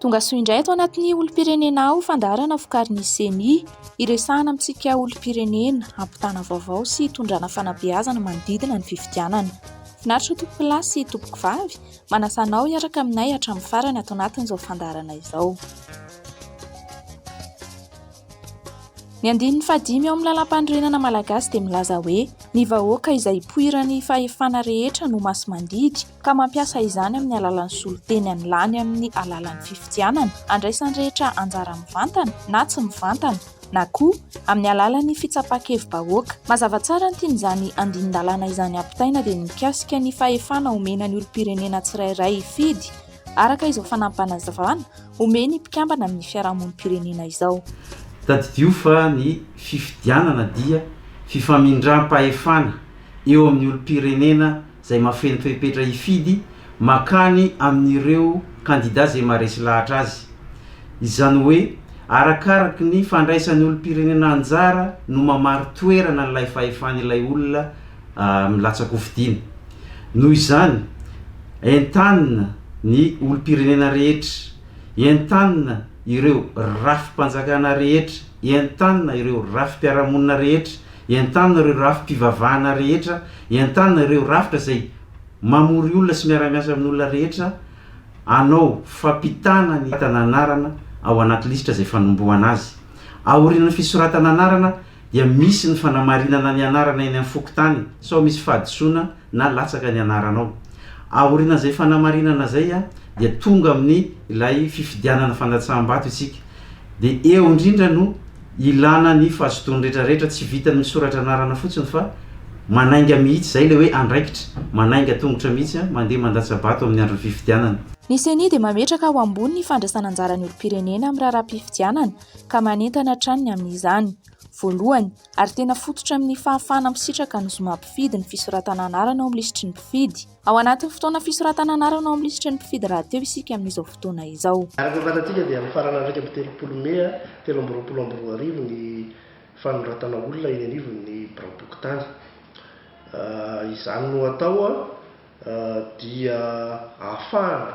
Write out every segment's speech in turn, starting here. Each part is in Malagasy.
Tonga soa indray ato anatin'ny olom-pirenena aho fandaharana vokarin'ny ceni, hiresahana amintsika olom-pirenena, hampitana vaovao sy hitondrana fanabeazana manodidina ny fifidianana. Finaritra tompokolahy sy tompokovavy, manasa anao hiaraka aminay hatramin'ny farany ato anatin'izao fandaharana izao. Ny andininy fahadimy ao amin'ny Lalampanorenana Malagasy dia milaza hoe, Ny vahoaka izay ipoiran'ny fahefana rehetra no masomandidy, ka mampiasa izany amin'ny alalan'ny solonteny any lany amin'ny alalan'ny fifidianana, andraisan'ny rehetra anjara mivantana na tsy mivantana, na koa amin'ny alalan'ny fitsapan-kevi-bahoaka. Mazava tsara ny tian'izany andinin-dalàna izany ampitaina dia ny mikasika ny fahefana omena ny olom-pirenena tsirairay hifidy araka izao fanampanazavan omeny ny mpikambana amin'ny fiarahamonim-pirenena izao. Tadidio fa ny fifidianana dia fifamindram-pahefana eo amin'ny olom-pirenena izay mahafeno fepetra hifidy mankany amin'ireo kandida izay maharesy lahatra azy. Izany hoe, arakaraky ny fandraisan'ny olom-pirenena anjara no mamari-toerana an'ilay fahefan'ilay olona milatsakofidina. Noho izany, entanina ny olom-pirenena rehetra, entanina ireo rafi-panjakana rehetra, entanina ireo rafi-piarahamonina rehetra, Entanina ireo rafi-pivavahana rehetra, entanina ireo rafitra izay mamory olona sy miara-miasa amin'ny olona rehetra hanao fampitana ny fisoratana anarana ao anaty lisitra izay fanombohana azy. Aorian'ny fisoratana anarana dia misy ny fanamarinana ny anarana eny amin'ny fokontany sao misy fahadisoana na latsaka ny anaranao. Aorian'izay fanamarinana izay dia tonga amin'ny ilay fifidianana fandatsaham-bato isika. Dia eo indrindra no ilana ny fazotoan'ny rehetra rehetra, tsy vitan'ny misoratra anarana fotsiny fa manainga mihitsy, izay ilay hoe andraikitra, manainga tongotra mihitsy, mandeha mandatsa-bato amin'ny andron'ny fifidianana. Ny Ceni dia mametraka ho ambony ny fandraisana anjaran'ny olom-pirenena amin'ny raharaham-pifidianana ka manentana hatrany ny amin'izany. Voalohany. ary tena fototra amin'ny fahafahana misitraka ny zoma mpifidy ny fisoratana anarana ao amin'ny lisitry ny mpifidy. Ao anatin'ny fotoana fisoratana anarana ao amin'ny lisitry ny mpifidy rahateo isika amin'izao fotoana izao. Araka ny fantatsika dia mifarana iraika amby telopolo mey telo amby roapolo amby roa arivo ny fanoratana olona eny anivon'ny biraom-pokontany. Izany no atao dia ahafahana.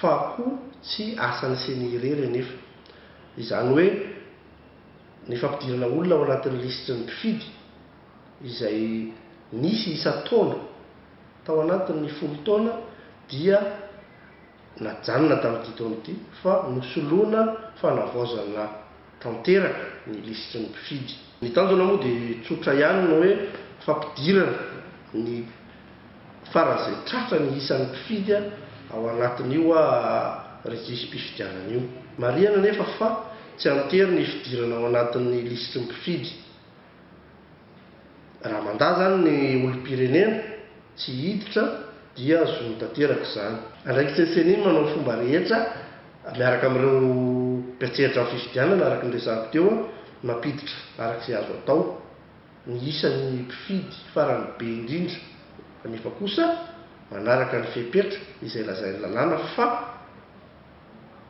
fa koa tsy asan'ny ceni irery anefa. Izany hoe ny fampidirana olona ao anatin'ny lisitry ny mpifidy izay nisy isan-taona tao anatin'ny folo taona dia najanona tamin'ity taona ity fa nosoloina fanavaozana. tanteraka ny lisitry ny mpifidy. Ny tanjona moa dia tsotra ihany ny hoe fampidirana ny faran'izay tratra ny isan'ny mpifidy ao anatin'io rejisim-pifidianana io. Marihana anefa fa tsy an-tery ny hifidirana ao anatin'ny lisitry ny mpifidy. Raha mandà izany ny olom-pirenena, tsy hiditra, dia zo tanteraka izany. Andraikitry ny Ceni ny manao ny fomba rehetra miaraka amin'ireo mpiantsehatra amin'ny fifidianana, araka ny resahako teo, ny mampiditra araka izay azo atao ny isan'ny mpifidy farany be indrindra, kanefa kosa manaraka ny fepetra izay lazain'ny lalàna fa.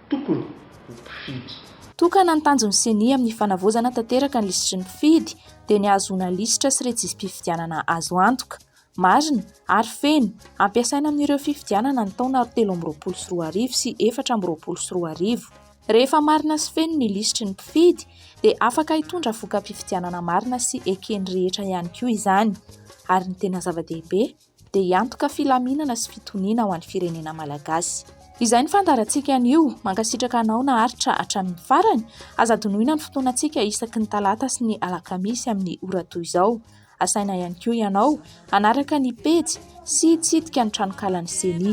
tokony ho mpifidy. Tokana ny tanjon'ny Ceni amin'ny fanavaozana tanteraka ny lisitry ny mpifidy dia ny hahazoana lisitra sy rejisi-pifidianana azo antoka, marina ary feno hampiasaina amin'ireo fifidianana ny taona telo amby roapolo sy roa arivo sy efatra amby roapolo sy roa arivo. Rehefa marina sy feno ny lisitry ny mpifidy dia afaka hitondra voka-pifidianana marina sy eken'ny rehetra ihany koa izany. Ary ny tena zava-dehibe? dia hiantoka filaminana sy fitoniana ho an'ny firenena Malagasy. Izay ny fandaharantsika anio. Mankasitraka anao naharitra hatramin'ny farany. Aza adinoina ny fotoanantsika isaky ny talata sy ny alakamisy amin'ny ora toy izao. Asaina ihany koa ianao hanaraka ny pejy sy hitsidika ny tranonkalan'ny Ceni.